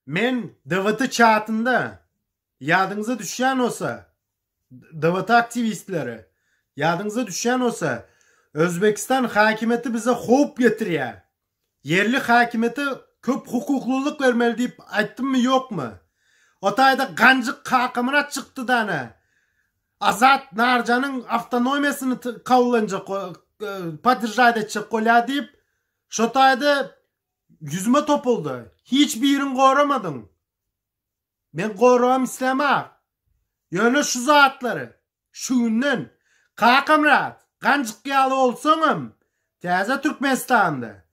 Men DWT çatynda, ýadyňyza düşýän bolsa, DWT aktiwistleri, ýadyňyza düşýän bolsa, Özbegistan häkimiýeti bize howp getirýär. Ýerli häkimiýete köp hukuklylyk bermeli diýip aýtdymmy, ýokmy? O taýda Ganjyk Kakamyrat çykdy-da ana, Azat Narjanyň awtonomiýasyny kabul etjek, podderžat etjek bolýar diýip, Şo taýda ýüzüme topuldy. Hiç birin goramadyň. Men goragam islämok. Ýöne şu zatlary, şu günden, Kakamyrat, ganjyk ýaly bolsaňam, täze Türkmenistanda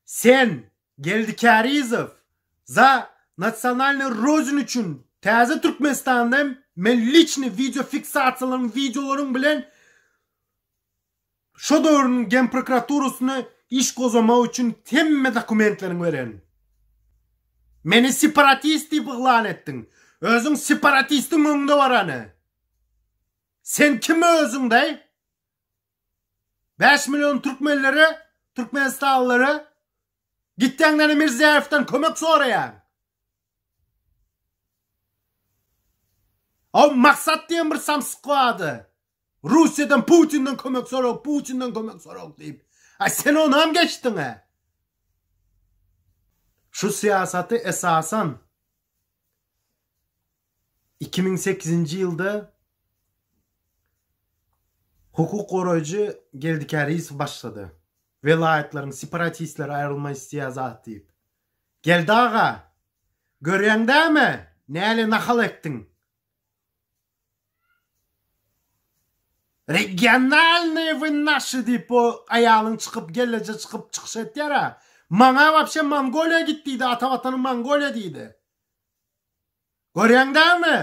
sen, Geldi Kärizow, za nasionalnyý Rodinu üçin täze Türkmenistanda hem men liçnyý wideofiksasiýalaryň, wideolaryň bilen Şo döwrüň Genprokuraturasyna iş gozamak üçin hemme dokumentleriňi beren. Meni separatist diýip yglan etdiň. Özüň separatistiň öňde barany. Sen kim özüň daý? Bäş million türkmenlere, türkmenistanlylara gitýäňdäne Mirziýaýewden kömek soraýaň. Aw maksat diýen bir samsyk bardy. Russiýadan Putinden kömek sorag, Putinden kömek sorag diýip. Aý sen onam geçdiňä. Şu syýasaty esasan iki müň sekizinji ýylda hukuk goraýjy Geldi Käriýew başlady. Welaýatlaryň separatistleri aýrylma isleýär zat diýip. Geldi aga, görýäň dämi, näle nahal etdiň? Regionalnyý wynnaşy diýip bu aýalyň çykyp gelleje çykyp çykyş etýär a. Maňa wapşe Mongoliýa git diýdi ata watanyň Mongoliýa diýdi. Görýäň dälmi?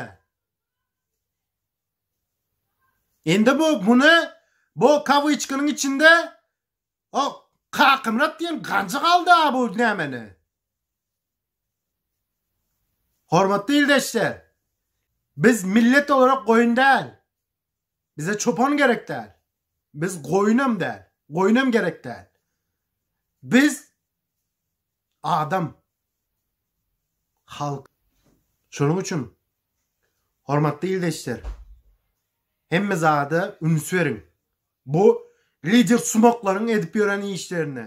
Indi bu muny bu kawyçkanyň içinde O Kakymyrat diýen ganjyk alda bu nämeni. Hormatly ildeşler, biz millet olarak goýun däl. Bize çopan gerek däl. Biz goýunam däl, goýunam gerek däl. Biz adam, halk. Şonuň üçin hormatly ildeşler, hemme zada üns beriň. Bu lider sumaklaryň edip ýören işlerine.